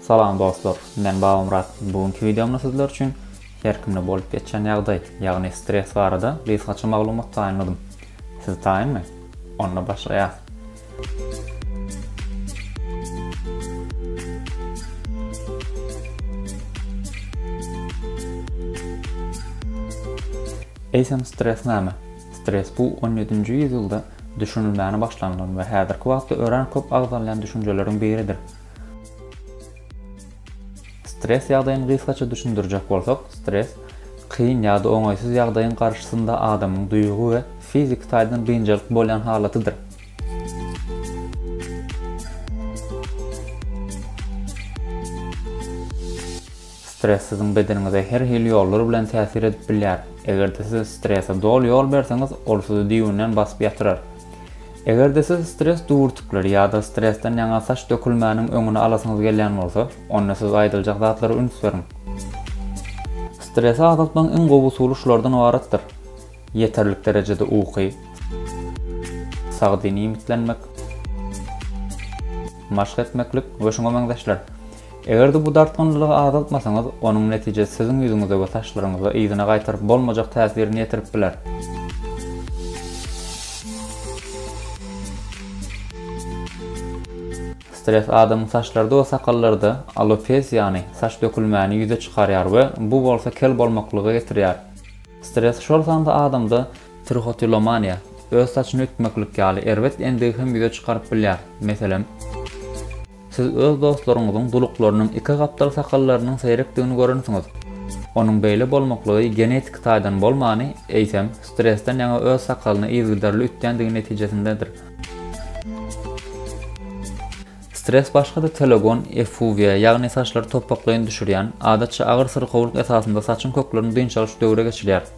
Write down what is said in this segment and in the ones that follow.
Salam dostlar, men Babamyrat. Bu günki wideomda sizler üçin her kimde bolup geçen ýagdaý, ýagny stres barada gysgaça maglumat taýynladym. Siz taýynmy? Onda başlaýas. Eýsem stres näme? Stres bu 17-nji ýüzýylda düşünilmäne başlanylan we häzirki wagtda örän köp agzalýan düşünjeleriň biridir. Stres ýagdaýyny gysgaça düşündirjek bolsak, stres, kyn ýa-da oňaýsyz ýagdaýyň garşysynda adamyň duýgy we fiziki taýdan biynjalyk bolýan halatydyr. Stress siziň bedeniňize her hili ýollar bilen täsir edip bilýär. Eger-de siz strese doly ýol berseňiz, ol sizi düýbünden basyp ýatyrar. Eger-de siz stres düwürtikleri ýa-da stresden ýaňa saç dökülmäniň öňüni alasyňyz gelýän bolsa, onda siz aýdyljak zatlara üns beriň. Stresi azaltmagyň iň gowy usuly şulardan ybaratdyr, ýeterlik derejede uky, sagdyn iýmitlenmek, maşk etmeklik we şuňa meňzeşler. Eger-de bu dartgynlylygy azaltmasaňyz, onuň netijesi siziň ýüzüňize we saçlaryňyza yzyna gaýtaryp bolmajak täsirini ýetirip biler. Stres adamyň saçlarda we sakallarda alopesiýany, saç dökülmäni ýüze çykarýar we bu bolsa kel bolmaklyga getirýär. Stres şol sanda adamda trihotilomaniýa, öz saçyny ütmeklik ýaly erbet endigi hem ýüze çykaryp bilýär. Meselem. Siz öz dostlaryňyzyň duluklarynyň iki gapdal sakallarynyň seýrekdigini görensiňiz. Onuň beýle bolmaklygy genetiki taýdan bolmany, eýsem, stresden ýaňa öz sakalyny yzygiderli ütdändigi netijesindedir. Stres başga-da telogon effuziýa, ýagny saçlary topbaklaýyn düşürýän, adatça agyr syrkawlyk esasynda saçyň köklerini dynç alyş döwre geçirýär.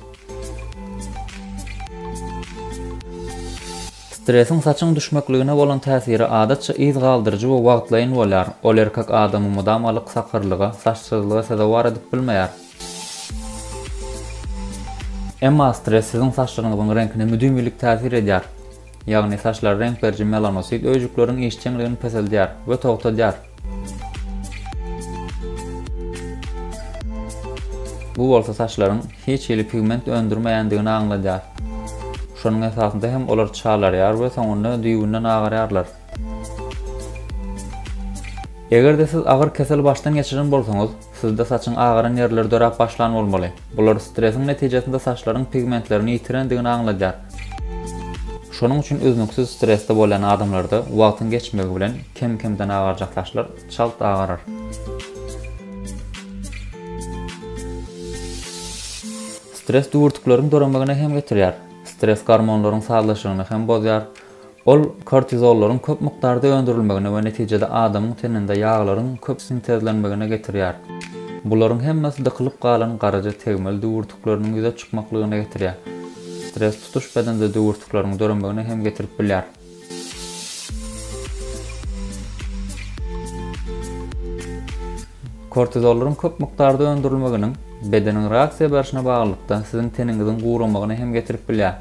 Stresiň saçyň düşmekligine bolan täsiri adatça yz galdyryjy we wagtlaýyn bolýar, ol erkek adamy mydama ylyk sakyrlyga, saçsyzlyga sezewar edip bilmeýär. Emma stres siziň saçlaryňyzyň reňkine müdimi ylyk täsir edýär, ýagny saçlara reňk beriji melanosit öýjükleriň işjeňligini peseldýär we togtadýar. Bu bolsa saçlaryň hiç hili pigment öndürmeýändigini aňladýar. Şonuň esasynda hem olar çalarýar we soňunda düýbünden agarýarlar. Eger-de siz agyr kesel başdan geçiren bolsaňyz, Sizde saçyň agaran ýerleri döräp başlan bolmaly. Bular stresiň netijesinde saçlaryň pigmentlerini ýitirendigini aňladýar. Şonuň üçin üznüksiz stresde bolýan adamlarda wagtyň geçmegi bilen kem-kemden agarjak saçlar çalt agarar. Stres düwürtikleriň döremegine hem getirýär. Stres gormonlaryň sazlaşygyny hem bozýar. Ol kortizollaryň köp mukdarda öndürilmegine we netijede adamyň teninde ýaglaryň köp sintezlenmegine getirýär. Bularyň hemmesi dykylyp galan garaja tegmil düwürtikleriniň ýüze çykmaklygyna getirýär. Stress tutuş bedende düwürtikleriň döremegine hem getirip bilýär. Kortizollaryň köp mukdarda öndürilmeginiň bedeniň reaksiýa berşine baglylykda siziň teniňiziň guramagyna hem getirip bilýär.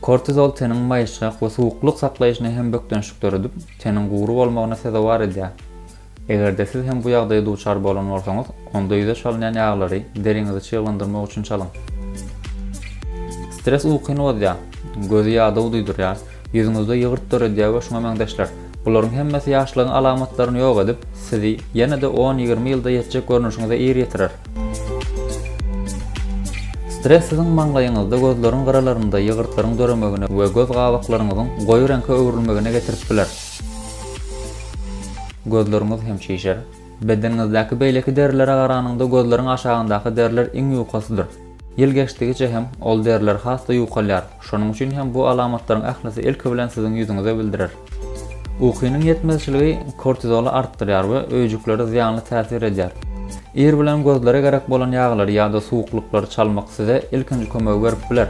Kortizol teniň maýyşgak we suwuklyk saklaýşyna hem bökdençlik döredip, teniň gury bolmagyna sezewar edýär. Eger-de siz hem bu ýagdaýa duçar bolan bolsaňyz, onda ýüze çalynýan ýaglary deriňizi çyglandyrmak üçin çalyň. Stres ukyny bozýar, gözi ýadaw duýdurýar, Ýüzüňizde ýygyrt döredýär we şuňa meňzeşler. Bularyň hemmesi ýaşlygyň alamatlaryny ýok edip, sizi ýene-de on-ýigrimi ýylda ýetjek görnüşiňize ir ýetirer. Stres siziň maňlaýyňyzda, gözleriň gyralarynda ýygyrtlaryň döremegine we göz gabaklaryňyzyň goýy reňke öwrülmegine getirip biler. Gözleriňiz hem şişer. Bedeniňizdäki beýleki derilere garanyňda gözleriň aşagyndaky deriler iň ýukasydyr. Ýyl geçdigiçe hem ol deriler has-da ýuwkalýar, şonuň üçin hem bu alamatlaryň ählisi ilki bilen siziň ýüzüňize bildirer. Ukynyň ýetmezçiligi kortizoly artdyrýar we öýjüklere zyýanly täsir edýär. Ir bilen gözlere gerek bolan ýaglary ýa-da suwuklyklary çalmak size ilkinji kömegi berip biler.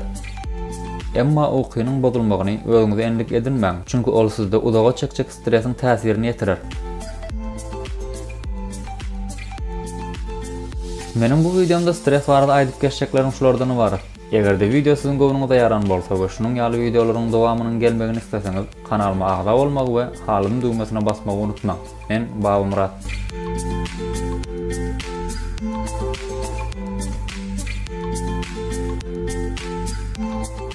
Emma ukynyň bozulmagyny özüňize endik edinmäň, çünki ol sizde uzaga çekjek Stresiň täsirini ýetirer. Meniň bu wideomda stres barada aýdyp geçjeklerim şulardan ybarat. Eger-de wideo siziň göwnüňize ýaran bolsa we şunuň ýaly wideolaryň dowamynyň gelmegini isleseňiz, kanalyma agza bolmagy we halyny düwmesine basmagy unutmaň. Men Babamyrat.